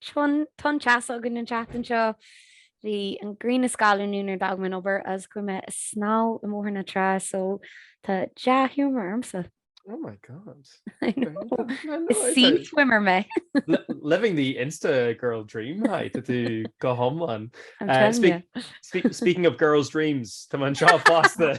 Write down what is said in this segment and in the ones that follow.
Bhí tonn teasa againn an tseachtain seo. Bhí an ghrian ag scalladh nuair a d'fhág mé an obair agus chuaigh mé a snámh i mBóthar na Trá so tá dea-ghiúmar ormsa. Oh my God. I know. Is sea swimmer mé. Living the Insta girl dream hai, tá tú go hiomlán. I'm eh, telling you. Speaking of girls' dreams, tá anseo fosta.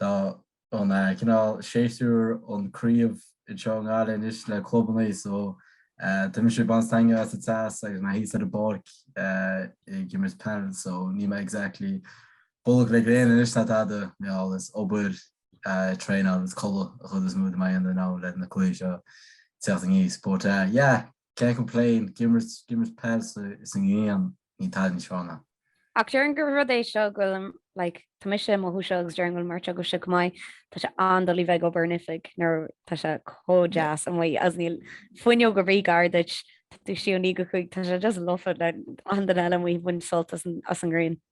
Tá an cineál séasúr an Craobh anseo i nGaillimh anois le clubanna so tá mise ag baint stangadh as an teas agus mé thíos ar an bpáirc ag imirt peil so níl mé exactly bolg le gréine anois ná tada mé thall is obair traenáil is codladh an chuid is mó atá mé a dhéanamh in am le na cluichí seo teacht aníos but yeah Can't complain, ag imirt peil sa ngrian, níl tada níos fearr ná. Ach déarfainn gur rud é seo go bhfuil, like, tá mise i mo shuí anseo agus déarfainn go bhfuil mar atá agaibhse chomh maith, tá sé an-doiligh bheith ag obair in oifig nuair tá sé chomh deas amuigh agus níl fuinneog ar bith gar duit, tú i do shuí ó naoi go cúig, tá sé just lofa le achan duine eile amuigh ag baint sult as an ngrian.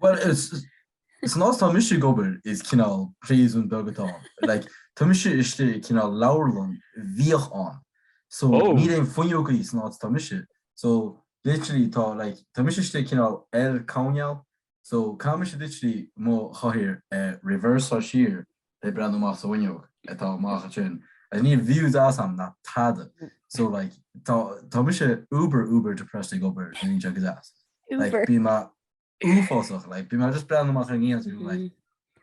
Bhuel, san áit atá mise ag obair, is cineál príosún beag atá ann. Like, tá mise istigh i cineál leabharlann a bhíodh ann. So, níl aon fuinneogaí san áit atá mise. So, literally, tá, like, tá mise istigh i cineál L coirnéal. So, caithfidh mise literally mo chathaoir a reverseáil siar le breathnú amach sa bhfuinneog atá amach ansin, and níl view deas ann ná tada, so like tá tá mise uber uber depressed ag obair le linn seo go deas, like bíonn mé uafásach, like bíonn mé just breathnú amach ar an ngrian seo go like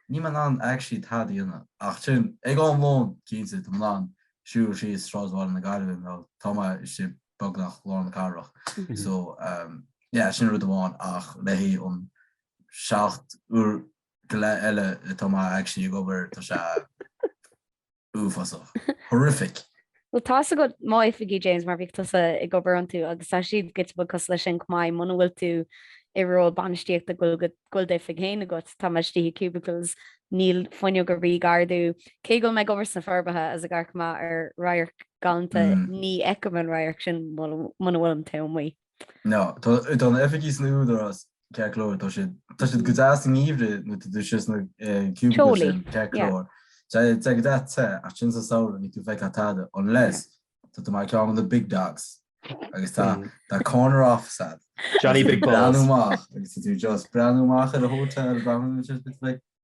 níl mé in ann actually tada a dhéanamh, ach sin ag am lóin cinnte tá mé in ann siúl síos sráideanna na Gaillimhe nó tá mé istigh beagnach lár na cathrach, so umm yeah sin rud amháin ach le haghaidh an seacht uair go leith eile atá mé actually ag obair tá sé uafásach. Horrific. Bhuel tá's agat mo oifigí James mar bhíodh tusa ag obair iontu agus tá siad giota beag cosúil leis sin chomh maith muna bhfuil tú i ról bainistíochta go bhfuil d'oifig féin agat tá mé istigh i cubicles níl fuinneog ar bith gar domh cé go bhfuil mé ag obair sna Forbacha agus gar go maith ar radharc galánta ní fheicim an radharc sin muna bhfuilim taobh amuigh. No, tá na hoifigí san Údarás ceart go leor, tá siad, tá siad go deas i ngeimhreadh nuair tá tú thíos sna cubicles sin, ceart go leor. Tá sé go deas te, ach sin sa samhradh níl tú ag feiceáil tada, unless tá tú mar ceann de na big dogs agus tá tá corner office a'd. Johnny Big Balls. Breathnú amach, agus tá tú just breathnú amach ar an hotel, breathnú, agus sios bit feic.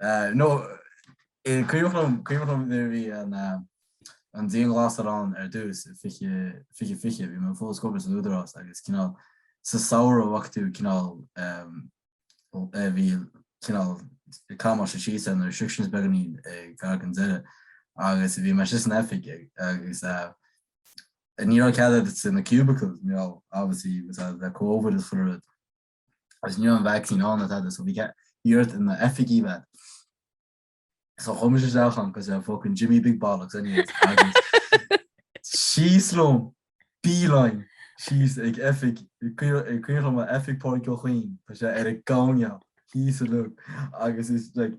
Eh, no, is cuimhin liom, cuimhin liom nuair a bhí an, eh, an dianghlasáil ann ar dtús, i 20, 2020, bhí mé fós ag obair san Údarás agus cineál sa samhradh a bhac tú cineál, ehm, eh, bhí cineál camaiste síos ar na restrictions beagáinín gar don deireadh agus bhí mé istigh san oifig ag, agus, eh, ní raibh cead bheith sna cubicles, you know, obviously, with, eh, le Covid is chuile rud. agus ní raibh an vacsaín ann ná tada so bhí cead iarracht ag na oifigí bheith so chuaigh mise isteach ann cosúil le fucking Jimmy Big Bollocks anyways agus síos liom beeline síos ag oifig is cuimhin liom a oifig Pádraig Ó Cuinn tá sé ar a gcamhneach thíos a lug agus is like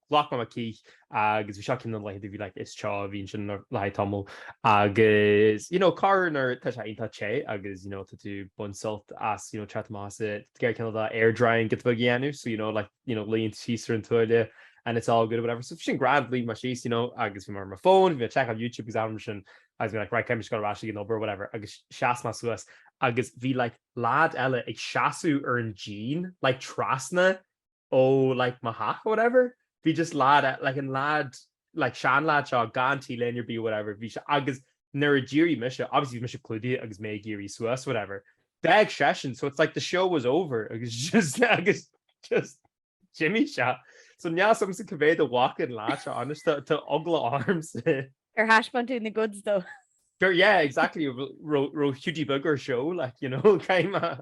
Ghlac mé mo chith agus bhí seo ceann de na laethanta a bhí like is teo, bhí ansin le haghaidh tamaill agus you know corruair nuair tá sé iontach te agus you know tá tú ag baint sult as you know tráth Tomás i gceann cineál de air drying giota beag a dhéanamh so you know like you know luíonn tú síos ar an tuáille and it's all good or whatever so bhí sin grand luigh mé síos you know agus bhí mé ar mo fón bhí mé ag seiceáil YouTube agus anam sin agus bhí mé like right caithfidh mé dul ar ais ag an obair or whatever agus sheas mé suas agus bhí like lad eile ag seasamh ar an díon like trasna ó like mo theach or whatever, bhí just lad e- like an lad, like sean lad seo gan t-léine ar bith or whatever, bhí sé, agus nuair a d'éirigh mise, obviously bhí mise clúdaithe agus mé ag éirí suas whatever, d'fhág seisean, so it's like the show was over agus just, agus just d'imigh sé. So níl a fhios agamsa cibé do bhac an lad seo anois, tá, tá eagla ormsa. Ar thaispeáin tú na goods dó? Gur yeah, exactly, raibh, raibh Hiúdaí Beag ar show, like, you know, caitheadh mé.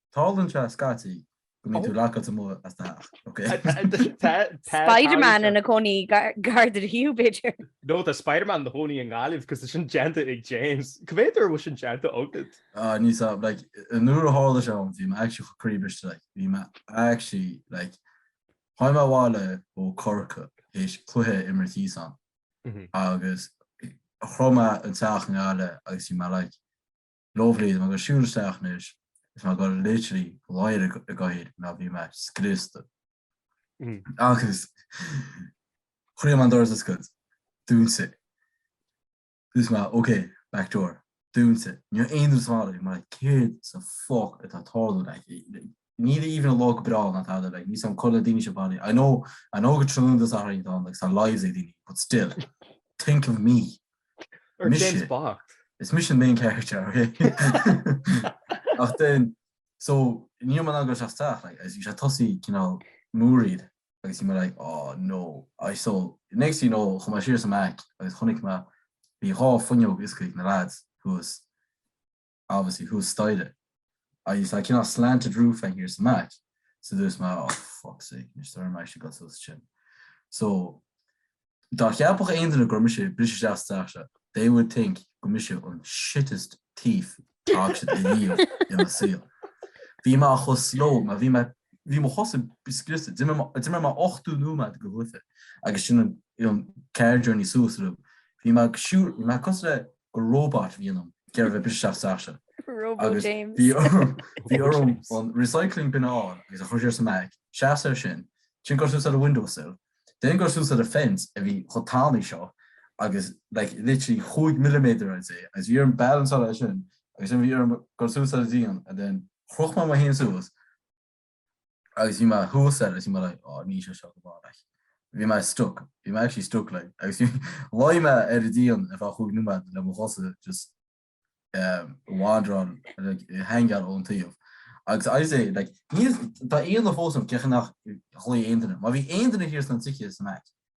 Tarlaíonn sé scaití go mbíonn tú lockáilte amuigh as do theach, ok? Spiderman ina chónaí gar duit b'fhéidir? No, tá Spiderman ina chónaí i nGaillimh cos tá sin déanta ag James. Cé mhéad uair a bhfuil sin déanta agat? Ah, níl a fhios agam, like, nuair a tharla sé ann bhí mé actually chomh croíbhriste, like, bhí mé actually, like, tháinig mé abhaile ó Corcaigh théis cluiche a imirt thíos ann agus shroich mé an teach i nGaillimh agus bhí mé like, Lóbhliain, agus siúd isteach anois is ná gur literally gáire i gcoír ná bhí mé, scriosta. Agus chuir mé an doras oscailt, dúnta. Dúirt mé, OK, back door, dúnta. Níor aon dúsáil mar céard sa foc atá tarlú aici. Níl even an lá go breá ná tada like san codladh daoine sa mbaile, I know, I know go tráthnóna sa Saturday atá ann like is tá lives ag daoine but still, think of me. Or Mise. James Bond. Is mise an main character, ok? Ach then, so ní raibh mé in ann dul isteach sa teach like, agus bhí sé ag tosú cineál múraíl agus bhí mé like, oh no, I so next thing you know chuaigh mé siar sa mback agus chonaic mé bhí dhá fuinneog oscailte ag na lads who was, obviously thuas staighre. Agus tá cineál slanted roof thiar sa mback, so dúirt mé oh fuck sake anois do raibh mé ag goil suas sin. So dá cheapfadh aon duine go raibh mise ag briseadh isteach sa teach seo, they would think gur mise an shittest thief fhág siad a dhíol i mo saol. Bhí mé chomh slow, mar bhí mé, bhí mo chosa scriosta, d'imir mé ochtó nóiméad go hoife agus ansin an car journey suas arís. Bhí mé ag siúl, bhí mé cosúil le gur róbat a bhí ionam, ag iarraidh a bheith ag briseadh isteach sa teach. Agus bhí orm an recycling bin a fháil agus a chur thiar sa mback. Seasamh air sin. Ansin goil suas ar an windowsill. Then goil suas ar an fence a bhí chomh tanaí seo agus like literally chúig milliméadar I'd say agus bhí orm balanceáil air sin agus then bhí orm goil suas ar an díon and then chroch mé mé féin suas agus bhí mé thuas air agus bhí mé like oh níl sé seo go maith like bhí mé stuck, bhí mé actually stuck like agus bhí Luigh mé ar an díon ar feadh chúig nóiméad le mo chosa just wandering like ag hangáil ón taobh agus I say like níl, tá ionadh fós orm cén chaoi nach ghlaoigh aon duine, má bhí aon duine thiar sna tithe sa mback,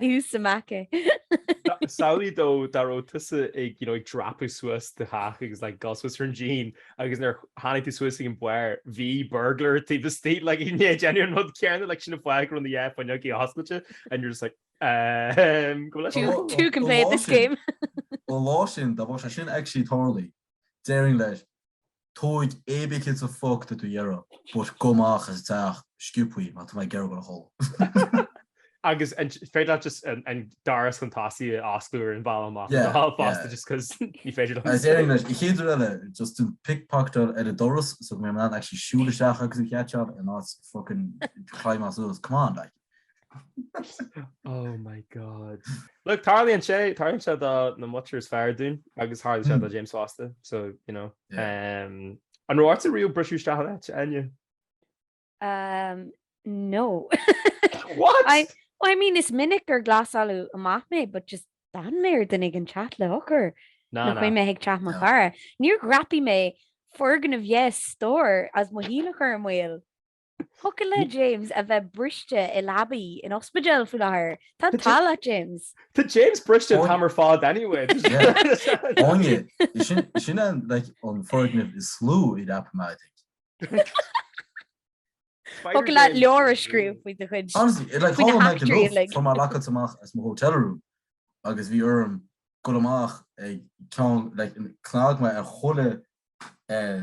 Thú sa mback. Samhlaigh though dá raibh tusa ag you know ag dreapadh suas do theach agus like dhul suas ar an díon agus nuair tháinig tú suas ag an bharr bhí burglar taobh istigh like you know ag déanamh an rud céanna like sin an fáth go raibh na yeah fuinneogaí oscailte and you're just like ehm go bhfuil leis an Two can play at this game. Ó lá sin dá bhfuil sé sin actually tarlaithe, déarfainn leis, Tóig cibé céard sa fuck atá tú ag iarraidh, but gabh amach as an teach sciobtha, mar tá mé ag iarraidh dul a chodladh. Agus an féidir leat just an doras chun tosaigh a osclú ar an bhealach amach Yeah, anseo fosta yeah. just cos ní féidir liom. Is éirigh leis an chéad uair eile, just déan pick pocket ar an doras so go mbeidh mé in ann actually siúl isteach agus an chat seán in áit fucking climbáil suas, come on like. Oh my god. Look, tarlaíonn sé, tarlaíonn sé do na muintir is fearr dúinn agus tharla sé do James fosta, so, you know. Yeah. Um, an raibh ortsa riamh briseadh isteach in áit, Áine? Um, no. What? I, well, I mean, is minic gur glasáladh amach mé, but just d'fhan mé ar dhuine ag teacht le heochair. Na, Nó na. chuaigh mé ag teach mo No. chara. Níor dhreapaigh mé foirgneamh deich stór is mo shaol a chur i mbaol. Thiocfadh le James a bheith briste i leaba in ospidéal faoi láthair. Tá an t-ádh leat James. Tá James briste an t-am ar fad anyway. Áine, is sin an foirgneamh is lú a dhreap mé, I think. Thiocfadh leat leabhar a scríobh faoi do chuid. Honestly, it like Faoi na thóg mé go heachtraí lucht uilig. fuair mé lockáilte amach as mo hotel room agus bhí orm dul amach ag ceann like chnag mé ar chuile eh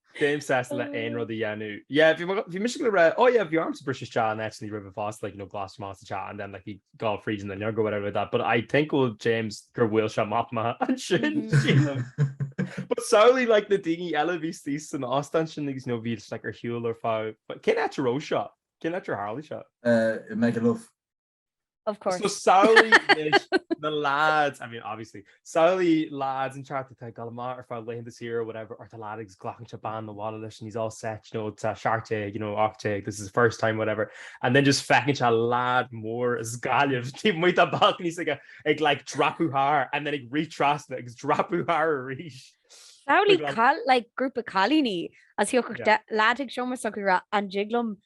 Bím sásta le haon rud a dhéanamh. Yeah, bhí mo- bhí mise go raibh, oh yeah, bhí ormsa briseadh isteach in áiteannaí roimhe fosta, like, you know, glasáilte amach sa teach and then like, ag dul fríd an fhuinneog or whatever like that, but I think go bhfuil James, gur bhfuil seo amach maith ansin, sílim. But samhlaigh, like, na daoine eile a bhí suas san óstán sin agus, you know, b'fhéidir, like, ar shiúl ar feadh, cén áit a raibh seo? Cén áit ar tharla seo? Eh, i Magaluf. Of course. So samhlaigh anois na lads, I mean obviously, samhlaigh lads an cheart atá ag dul amach ar a laethanta saoire whatever or tá lad agus glacann sé bean abhaile leis and he's all set, you know, tá seacht déag, you know, ocht déag, this is the first time whatever and then just feiceann sé lad mór as Gaillimh taobh amuigh dá balcony is ag ag like dreapadh thar and then ag rith trasna agus dreapadh thar arís. Samhlaigh like, like grúpa cailíní astoíche yeah. de lad ag an seomra s'acu ra an jiglum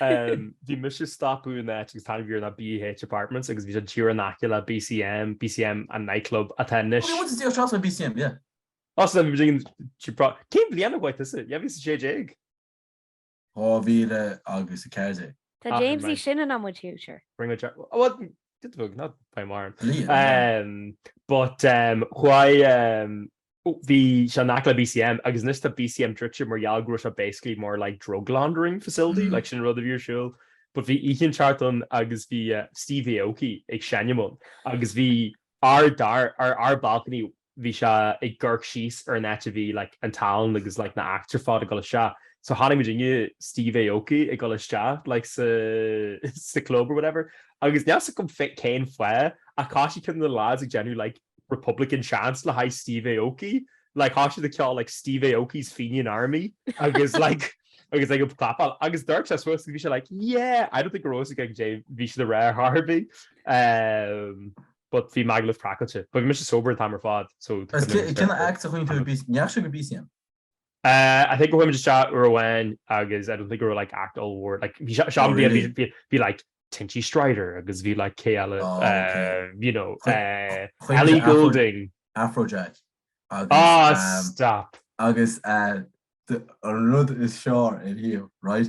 Bhí mise ag stopadh in áit agus an t-ainm a bhí air ná BH Apartments agus bhí sé díreach in aice le BCM, BCM an nightclub atá anois. Bhí muid ag iarraidh seans ar BCM, yeah. Os cionn bliain trí pro. Cén bliain a chuaigh tusa? 2016? 2014. Tá James í sin in am muid future. Ring a Jack oh well did bhog not by Marn. Liam. But chuaigh bhí sé in aice le BCM agus anois tá BCM druidte mar gheall go raibh sé basically mar like drug laundering facility like sin rud a bhí ar siúl. But bhí oíche inteacht ann agus bhí uh, Steve Aoki ag seinm ann agus bhí ár dar ar ár balcony bhí sé ag amharc síos ar an áit a bhí like an talann agus like na acts ar fad ag dul isteach. So chonaic muidinne Steve Aoki ag dul isteach like sa sa club or whatever agus níl a fhios agam cén fáth ach thoisigh cuid de na lads ag déanamh like Republican chants le haghaidh Steve Aoki, like thoisigh siad ag ceol like Steve Aoki's Fenian Army agus like agus ag clapáil agus d'amharc sé suas agus bhí sé like yeah, I don't think go raibh a fhios aige caidé a bhí siad a rá ar chor ar bith ehm but bhí Magaluf craiceáilte but bhí mise sober an t-am ar fad so Is cén act a chonaic tú ar bith, an ndeachaigh sibh go BCM. Uh, I think go ndeachaigh muid isteach uair amháin agus I don't think go raibh like act ollmhór like bhí se- sean Oh, bhí really? bhí- bhí- bhí like Tinchy Stryder agus bhí like cé eile Oh, okay. uh, you know Chuir- uh, Chuig Ellie Afro- Goulding Afrojack. Agus, ah um, stop agus uh, the- an rud is sure anois Hugh, right?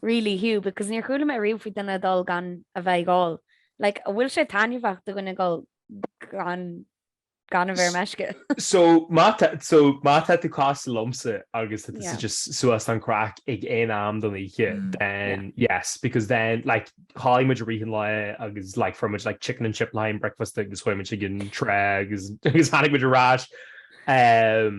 really Hugh because níor chuala mé riamh faoi duine ag dul gan a bheith ag ól like an bhfuil sé taitneamhach do dhuine ag dul gan gan a bheith ar meisce? So má tá so má tá tú casta liomsa agus tá tú yeah just suas don chraic ag aon am den oíche mm. then yeah yes because then like chodail muid i rith an lae agus like fuair muid like chicken and chip le haghaidh an breakfast agus chuaigh muid ag an trá agus agus tháinig muid ar ais um,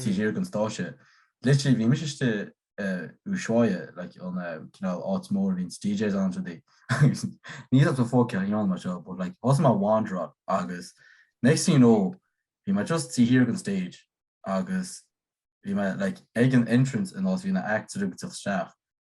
taobh thiar den stáitse. Literally bhí mise istigh i Ushuaia like an cineál áit mór a bhíonns DJs ann is rudaí agus ní fhaca mé focal a dhéanamh mar seo but like thosaigh mé ag wanderáil agus next thing you know bhí mé just taobh thiar den stage agus bhí mé like ag an entrance an áit a bhí na acts ag rith isteach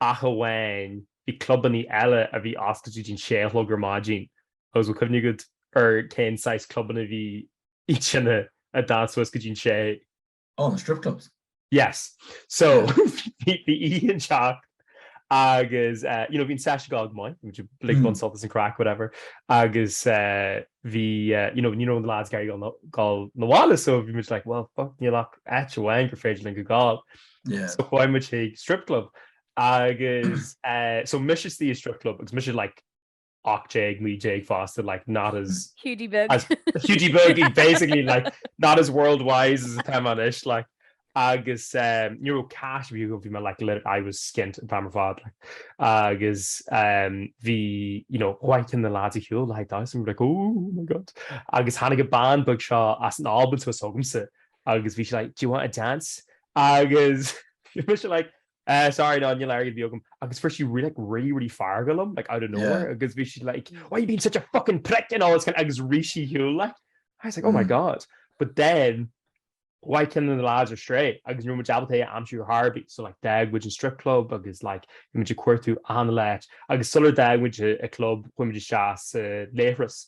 ach amháin bhí clubannaí eile a bhí oscailte go dtí an sé a chlog ar maidin agus bhfuil cuimhne agat ar cén saghas clubanna a bhí sin a d'fhan suas go dtí an sé? Oh, na strip clubs. Yes. So, bhí oíche inteacht agus you know bhí an seisiún ag gabháil go maith, muid uilig ag baint sult as an craic whatever agus bhí you know ní raibh na lads ag iarraidh gabháil 'na bhaile so bhí muid like well fuck níl ach áit amháin gur féidir linn go gabháil. so chuaigh muid chuig strip club agus so mise istigh i strip club agus mise like 18, 19 fosta like not as Hiúdaí Beag as Hiúdaí Beag basically like not as world wise as atá mé anois like agus ní raibh cash bhí bhí mé like lit- I was skint an t-am ar fad like agus bhí you know chuaigh cionn de na lads ar shiúl like damhsa and we were like ooh oh my god agus tháinig an bean bheag seo as an Albain suas chugamsa agus bhí sé like do you want a dance agus bhí sé like Uh, sorry no you Larry Bogum agus first you really like really really far galum like out of nowhere because yeah. we should like mm. why you being such a fucking prick and all this kind of agus Rishi Hugh like I was like oh my mm. god but then why can the lads are straight agus you know job day I'm sure Harvey so like dag which is strip club agus like you much queer to on the ledge agus solar dag which a club when we just chas uh, lehras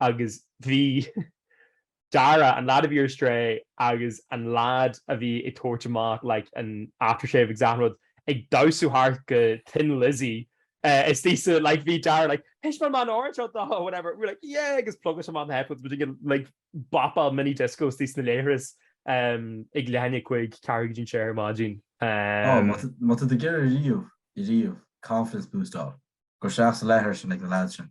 agus bhí Dara, an lad a bhí ar strae agus an lad a bhí ag tabhairt amach like an aftershave agus achan rud, ag damhsa thart go Thin Lizzy istigh sa like bhí Dara like Thaispeáin mé an t-amhrán seo dó! whatever, we were like yeah! agus phlugáil sé amach na headphones muid ag like bopáil mini disco istigh sna leithris ehm ag leath i ndiaidh a cúig, ceathrú go dtí an sé ar maidin. Oh má tá má tá tú ag iarraidh riamh riamh confidence boost a fháil, gabh isteach sa leithris sin ag na lads sin.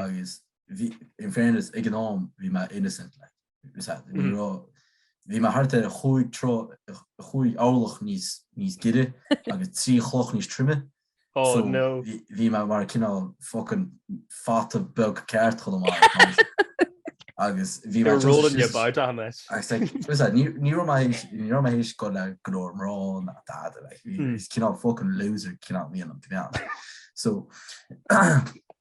agus bhí, in fairness, ag an am bhí mé innocent, like, bhí mé thart ar chúig troigh, chúig orlach níos giorra agus trí chloch níos troime, so bhí mé mar cineál fucking fata beag ceart chun an mhaith, agus bhí mé just, ní raibh mé théis dul le go leor mná ná dada, like, bhí mé just cineál fucking loser cineál, a bhí ionam to be honest, so.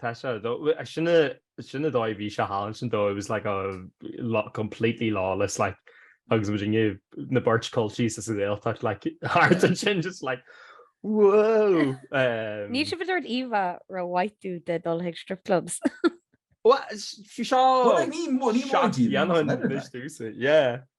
Tá sé do. Sin sin an dóigh a bhí sé thall ansin though, it was like a completely lawless like agus muidinne na beirt culchies as an Ghaeltacht like thart ansin just like whoa! Níl sibh ag tabhairt íomhá rómhaith duit ag dul chuig strip clubs. Bhuel, bhí seo seacht mbliana anois dtús, yeah.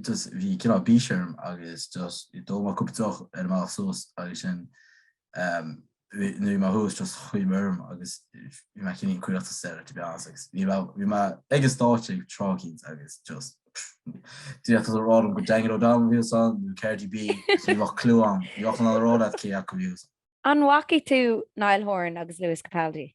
just bhí cineál bís orm agus just d'ól mé cúpla deoch ar an mbealach suas agus sin ehm nuair bhí mé thuas just choinnigh mé orm agus bhí mé cineál caochta sa deireadh to be honest agus bhí mé bhí mé ag an stáitse ag tráth éigint agus just d'fhéadfása a rá liom gur Daniel O'Donnell a bhí ansin nó Cardi B ní bheadh clue agam ní bheinn in ann a rá leat cé acu bhí An bhfaca tú Niall Horan agus Lewis Capaldi?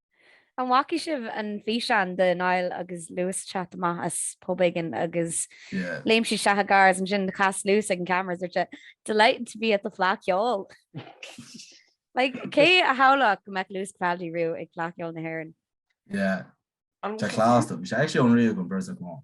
An bhfaca sibh an físeán de Niall agus Lewis ag teacht amach as pub éigin agus léim siad isteach i gcarr agus ansin chas Lewis ag an gcamera agus dúirt sé Delighted to be at the Fleadh Cheoil! Like, cé a shamhlódh go mbeadh Lewis Capaldi riamh ag Fleadh Cheoil na hÉireann? Yeah. Tá class though. Bhí sé actually unreal an bheirt acu ann.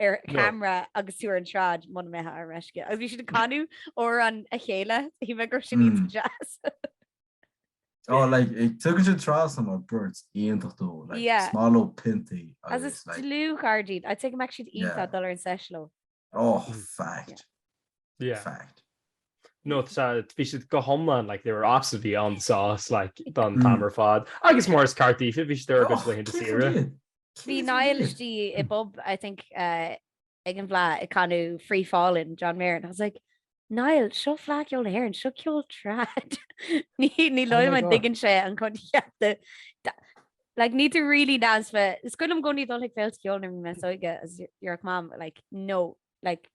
ar camera agus tú ar an tsráid muna mbeifeá ar meisce. Agus bhí siad ag canadh amhráin a chéile, shíl mé go raibh sin iontach deas. Tá tugad sin tras an bheirt iontach though, is maith leo piontaí. Agus is dlúthchairde iad, I think go mbeadh siad iontach dul ar an sesh leo. Ó, fact. Fact. No, bhí siad go hiomlán, like, they were absolutely on the sauce, like, don t-am ar fad. Agus mar is ceart daofa, bhí siad ar a gcuid laethanta saoire. Bhí Niall istigh i bpub I think ag an bhFleadh ag canadh Free Fallin' John Mayer and I was like Niall seo Fleadh Cheoil na hÉireann seo ceol trad níl a fhios agam an dtuigeann sé an coincheap de like need to really dance fe is cuimhin liom i gcónaí dul ag féilte ceoil nuair bhí mé níos óige is déarfadh mam like no like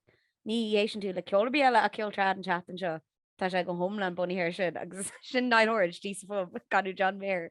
ní éisteann tú le ceol ar bith eile ach ceol trad an tseachtain seo Tá sé go hiomlán bunaithe ar sin agus sin Niall Horan, istigh sa phub, ag canadh John Mayer.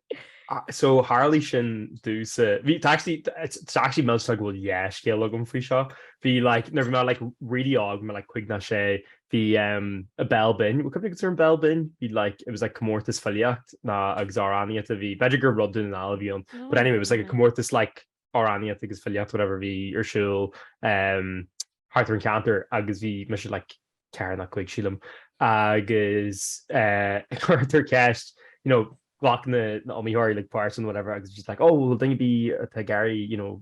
So tharlaigh sin domhsa, bhí, tá actually, it's actually milseáil go bhfuil dhá scéal agam faoi seo. Bhí like, nuair bhí mé like really óg, mé like cúig nó sé, bhí em a Béal Binn, what company was there in Béal Binn? Bhí like, it was like comórtas filíochta agus amhránaíochta a bhí, b'fhéidir gur rud Dhún na nGall a bhí ann, but anyway it was like a comórtas like amhránaíocht agus filíocht whatever a bhí ar siúl thart ar an cheantar agus bhí mise like ceathair nó cúig sílim agus cuirtear ceist you know ghlac na na iomaitheoirí like páirt in whatever agus just like oh bhfuil duine ar bith atá ag iarraidh you know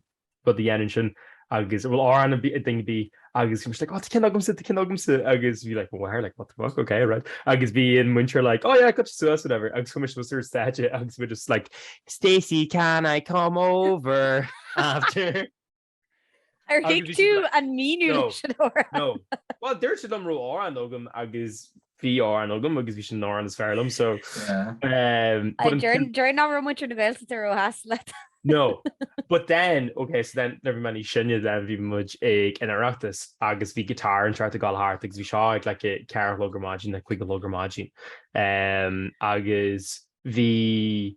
rud a dhéanamh ansin agus bhfuil amhrán ag duine ar bith Agus I was like, oh tá ceann agamsa, tá ceann agamsa, agus bhí like mo mháthair like what the fuck, ok right. Agus bhí an muintir like oh yeah goitse suas whatever, agus chuaigh mé suas ar an stáitse agus bhí mé just like Stacey can I come over after? Ar thuig tú an míniú leis an amhrán? No, no. Bhuel dúirt siad liom an raibh amhrán agam agus bhí amhrán agam agus bhí sin an amhrán is fearr liom so Déarfainn nach raibh muintir na Gaeltachta róshásta leis No but then ok so then nuair bhí mé níos sine then bhí muid ag an Oireachtas agus bhí guitar an tráth ag dul thart agus bhí seo ag like a ceathair a chlog ar maidin nó a cúig a chlog ar maidin agus bhí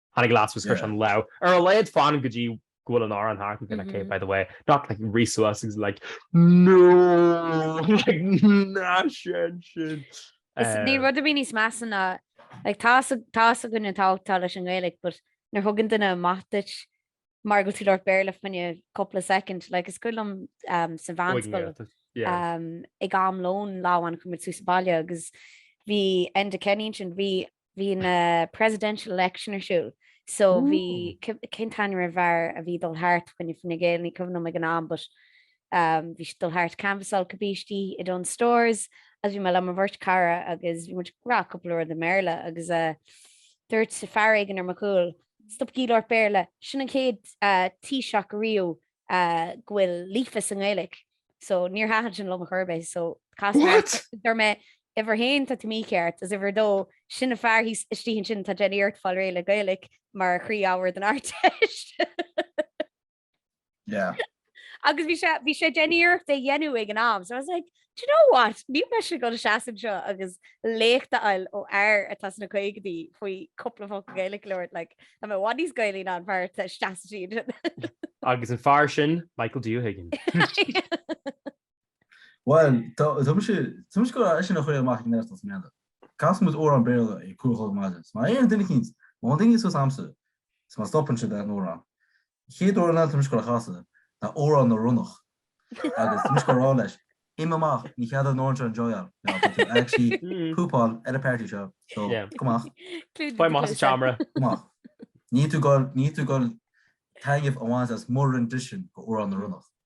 Tháinig lad suas agus chuir sé an lámh ar a laghad fan go dtí go bhfuil an amhrán thart again, ok, by the way, not like rith suas agus like no! like ná seinn sin! Is níl rud ar bith níos measa ná, like tá a fhios againn an tábhacht atá leis an nGaeilge but nuair thugann duine amach duit mar go bhfuil tú ag labhairt Béarla fá choinne cúpla soicind, like is cuimhin liom sa mheánscoil ag am lóin lá amháin chuaigh muid suas sa bhaile agus bhí Enda Kenny ansin, bhí bhí na presidential election ar siúl so bhí cén t-ainm ar an fhear a bhí dul thart fá choinne Fine Gael ní cuimhin liom ag an am but um bhí siad dul thart canvasáil cibé istigh i Dunnes Stores agus bhí mé le mo bheirt chara agus bhí muid ag rá cúpla rud i mBéarla agus eh dúirt fear éigin ar mo chúl stop ag labhairt Béarla sin an chéad eh Taoiseach ariamh go bhfuil líofa sa nGaeilge so níor thaitin sin liom ar chor ar bith so chas mé thart is dúirt mé uimhir a haon tá tú mícheart is uimhir a dó sin an fear thíos istigh ansin atá ag déanamh iarracht fáil réidh le Gaeilge mar chroí-ábhar don Ardteist. Yeah. Agus bhí sé bhí sé ag déanamh iarracht é a dhéanamh ag an am so I was like Do you know what? Níl mise goil a seasamh anseo agus léacht a fháil ó fhear atá sna caogaidí faoi cúpla focal Gaeilge a labhairt, like, tá mé i bhfad níos Gaelaí ná an fear atá ag seasamh istigh ansin. Agus an fear sin, Michael D. Ó hUiginn. Bhuel, tá, tá mise, tá mise goil eisean a chur amach ag neart as an mBéarla. Casfaidh muid amhrán Béarla ag cúl chomh maith leis. Má éiríonn duine eicínt, má théann duine suas a'msa, is má stopann sé, beidh an t-amhrán. chéad amhrán atá mise goil a chasadh ná Amhrán na Ronnach agus tá mise goil a rá leis, Imigh amach, ní cheadaíonn uaireanta enjoyáil mé ach tá tú actually poopáil ar an party seo so Yeah. gabh amach, Clúdaigh Faigh amach do as an chluasa. seomra. gabh amach. Níl tú goil, níl tú goil taitneamh a bhaint as mo rendition de Amhrán na Ronnach.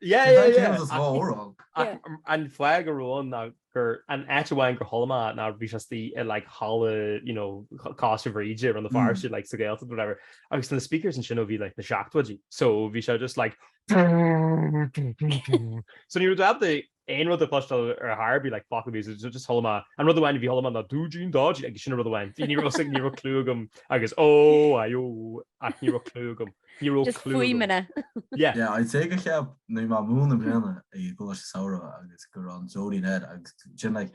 Yeah, yeah, yeah. Is dhá uair ann. Ach an fáth go raibh ann ná gur an áit amháin gur chuala mé é ná bhí sé istigh i like halla you know Coláiste Bhríde around the far side like sa Ghaeltacht or whatever agus na speakers ansin ó bhí like na seachtóidí so bhí sé just like so ní raibh tú ábalta aon rud a chloisteáil ar chor ar bith, like focal bhí so just chuala mé. An rud amháin a chuala mé ná dúidín, dodgy, agus sin an rud amháin. Bhí, ní raibh suim, ní raibh clú agam agus ó, aye, ó, ach ní raibh clú agam, ní raibh Just clú agam. fuaimeanna. Yeah. Yeah, I'd say gur cheap, bhí mé ag múineadh i mbliana i gColáiste Samhraidh agus go raibh an dreoilín air agus sin like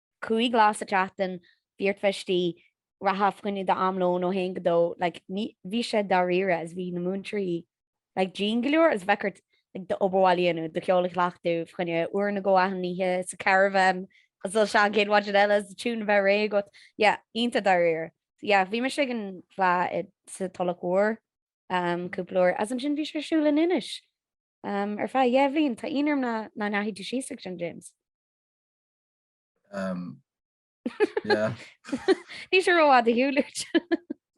5 lá sa tseachtain, bhí ar pháistí reatha fá choinne d'am lóin ó 1 go 2, like, ní, bhí sé dáiríre is bhí na múinteoirí, like, dian go leor is bheadh ort, like, d'obair bhaile a dhéanamh, do cheol a chleachtadh, fá choinne uair nó dhó achan oíche, sa caravan, is dul isteach an chéad mhaidin eile, is do tiúin a bheith réidh agat, yeah, iontach dáiríre. So yeah, bhí mise ag an bhfleá i, sa Tulach Mhór, um, cúpla uair, is ansin bhí sé ar siúl in Inis, um, ar feadh dhá bhliain, tá ionadh orm nach, nach ndeachaigh tú síos ag sin, James? Níl sé rófhada ar shiúl uait.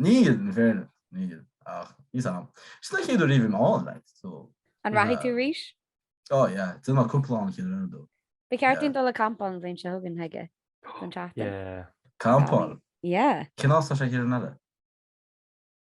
Níl, in fairness, níl. Ach, níl a fhios a'm. Sin an chéad uair a raibh mé ann, like, so. An rachaidh tú arís? Ó, yeah. D'fhill mé cúpla lá an chéad rud ó. Ba cheart dúinn dul ag campáil an bhliain seo chugainn, chuige, don tseachtain. Yeah. Campáil? Yeah. Cén áit tá sé thiar in Eile?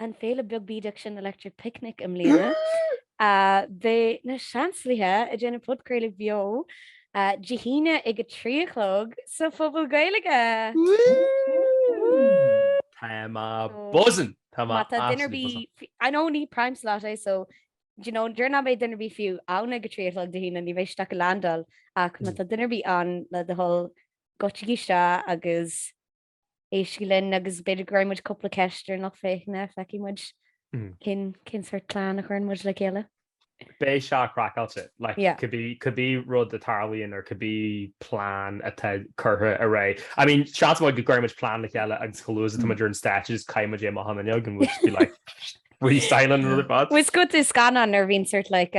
an féile beag bídeach sin Electric Picnic i mbliana, beidh na Seansálaithe ag déanamh podchraoladh beo Dé hAoine ag a trí a chlog sa Phuball Gaeilge! Tá mé buzzin'! Tá mé absolutely buzzin'! I know ní prime slot é so d'you know déarfainn nach mbeidh duine ar bith fiú ann ag a trí a chlog Dé hAoine ní bheidh siad ach ag leaindeáil ach má tá duine ar bith ann le do thoil goitsigí isteach agus éistigí linn agus b'fhéidir go gcuirfidh muid cúpla ceist ar lucht féachana, feicfidh muid cén, cén sórt plean a chuireann muid le chéile. Beidh sé craiceáilte. Like, cibí, cibí rud a tharlaíonn or cibí plean atá curtha ar aghaidh. I mean, seans maith go gcuirfidh muid plean le chéile agus chomh luath is atá muid ar an stáitse just caithfidh muid é amach an fhuinneog and we'll just be like, freestyling an rud ar fad. Bhuel, is cosúil le scannán nuair a bhíonn sort like,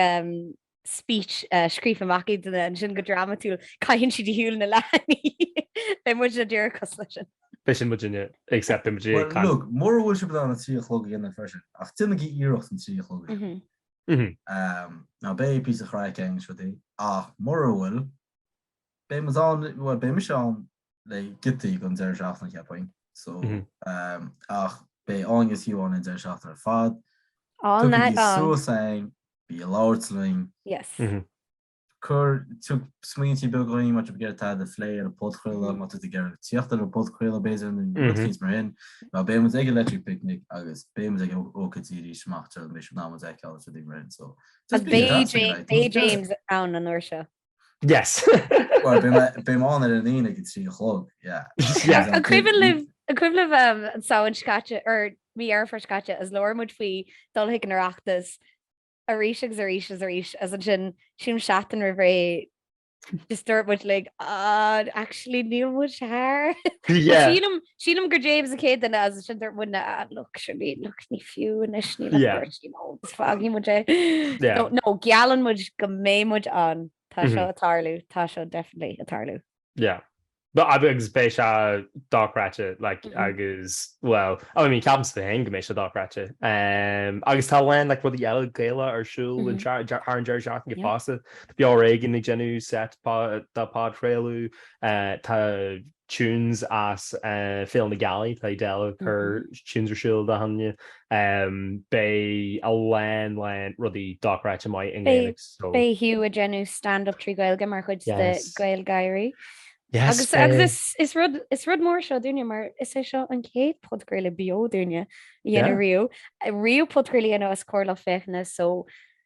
speech scríofa amach ag duine ansin go drámatúil, caitheann siad ar shiúl na leathanaigh. Beidh muidne díreach cosúil leis sin. B'shin muidne, except beidh muid ag Well, look, mura bhfuil sibh in ann a trí a chlog a dhéanamh freisin, ach déanaigí iarracht an trí a chlog a dhéanamh. Umm. Now beidh píosa craic againn is rudaí, ach mura bhfuil, beidh muid ann, bhuel, beidh mise ann le giotaí den deireadh seachtaine cheapfainn so ach beidh Áine agus Hugh ann an deireadh seachtaine ar fad. Tagaigí suas againn, bí ag labhairt linn. Yes. Cuir, tug smaointe beaga dhúinn má tá tú ag iarraidh tada a phlé ar an podchraoladh, má tá tú ag iarraidh teacht ar an podchraoladh b'fhéidir, nó rudaí mar sin. Mar beidh muid ag an Electric Picnic agus beidh muid ag ócáidí as seo amach, tar éis an am a d'fheiceáil agus rudaí mar sin so just be in touch. Beidh James ann an uair seo. Yes. Well, beidh mé ann ar an Aoine ag a trí a chlog, yeah. An cuimhin libh an Samhain seo caite, or mí Dheireadh Fómhair seo caite, is labhair muid faoi dul chuig an Oireachtas arís agus arís agus arís, agus ansin sílim seachtain roimh ré just dúirt muid like, ah, actually níl muid thart. Yeah. Sílim. Sílim gur James an chéad duine is ansin dúirt muidne ah, look, sure, ní, look, ní fiú anois, ní le Yeah. beirt, you know, is fágfaidh muid é. Yeah. No, no, geallann muid go mbeidh muid ann. Tá seo ag tarlú, tá seo definitely ag tarlú. Yeah. But ab- agus beidh sé dochreidte, like, Mhm. agus, well, oh, I mean, ceapaimse féin go mbeidh sé dochreidte. Um, agus tá a lán, like, rudaí eile Gaeilge ar siúl an Mhm. seach- de- thar an deireadh seachtaine Yeah. fosta. Tá Beo ar Éigean ag déanamh set pá- dá phodchraoladh, uh, tá tunes as Féile na Gealaí, tá Edel ag cur tunes ar siúl Dé hAoine. Beidh a lán lán rudaí dochreidte maith i nGaeilge so. Beidh Hugh ag déanamh stand up trí Ghaeilge mar chuid de GaelGÁIRÍ. Yes beidh! Agus is rud is rud mór seo dúinne mar is é seo an chéad podchraoladh beo dúinne a dhéanamh riamh. Riamh podchraoladh a dhéanamh os comhair lucht féachana so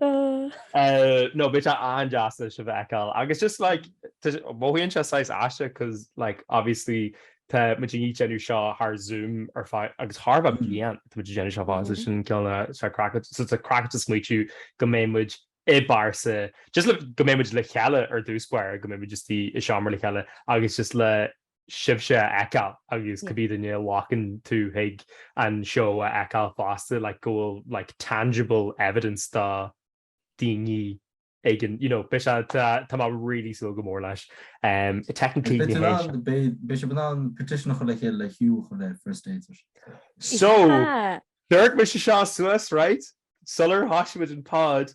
No, beidh sé an-deas sibh a fheiceáil agus just like tá sé, mothaíonn sé saghas aisteach cause like obviously tá muid ag déanamh seo thar Zoom ar feadh, agus thar bheith bliain tá muid ag déanamh seo fáil, so sin an ceann a, tá sé craic, so tá sé craiceáilte smaoitiú go mbeidh muid i bpearsa, just le, go mbeidh muid le chéile ar dtús báire, go mbeidh muid just i seomra le chéile agus just le, sibhse a fheiceáil agus cibé duine a bhacann teacht chuig an seó a fheiceáil fosta like go bhfuil like tangible evidence de daoine againn you know beidh sé tá mé really súil go mór leis technically ní hé seo beidh sibh in ann petition a chur le chéile le Hugh a chur le First Dates so dúirt mise seo suas right sular thoisigh muid an pod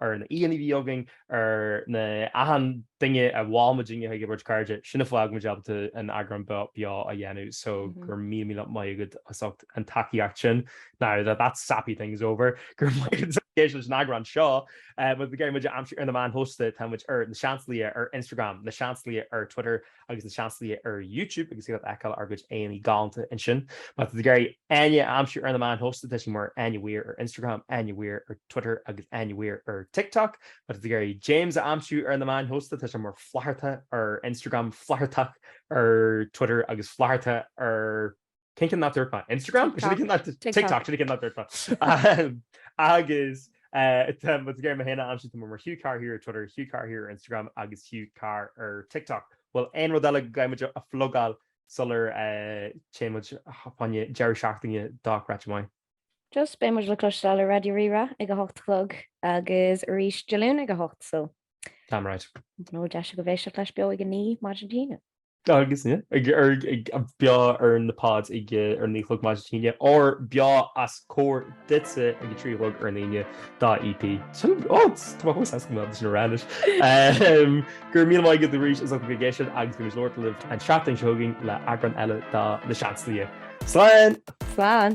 ar na haíonna a bhí againn, ar na h-achan duine a bhfuil mar dhuine dár gcuid cairde, sin a fhág muid ábalta an eagrán beo a dhéanamh, so go raibh míle míle maith agat as ucht an tacaíocht sin. Now that that sappy thing is over, go raibh maith agat as éisteacht leis an eagrán seo. Má tá tú ag iarraidh muid a aimsiú ar na meáin shóisialta, tá muid ar na Seansálaithe ar Instagram, na Seansálaithe ar Twitter, agus na Seansálaithe ar YouTube agus iad a fheiceáil ár gcuid éadaí galánta ansin. Má tá tú ag iarraidh Áine a aimsiú ar na meáin shóisialta, tá siad mar Áine Weir ar Instagram, Áine Weir ar Twitter agus Áine Weir ar TikTok. Má tá tú ag iarraidh James a aimsiú ar na meáin shóisialta, tá sé mar Flatharta ar Instagram, Flathartach ar Twitter agus Flatharta ar. Cén ceann nach ndúirt mé? Instagram? Is é sin an ceann nach ndúirt mé. TikTok. TikTok. Sin an ceann nach ndúirt mé. Agus má tá tú ag iarraidh mé féin a aimsiú, tá mé mar Hugh Carr here ar Twitter, Hugh Carr here ar Instagram agus Hugh Carr ar TikTok. Bhfuil aon rud eile go gcaithfidh muid a phlugáil sular téann muid fá choinne deireadh seachtaine de chraic mhaith? Just beidh muid le cloisteáil ar Raidió Rí-Rá ag a hocht a chlog agus arís Dé Luain ag a hocht so Damn right. I don't know, deis agaibh éisteacht leis beo ag a naoi maidin Dé hAoine. Agus ag an beo ar na pods ag a naoi a chlog maidin Dé hAoine, or beo os comhair duitse ag a trí a chlog ar an Aoine de EP. Sin ó tá mé chomh sásta go mbeadh sin a rá anois. Go raibh míle maith agat arís as ucht a bheith ag éisteacht agus beimid ag labhairt libh an seachtain seo chugainn le eagrán eile de Na Seansálaithe. Slán! Slán!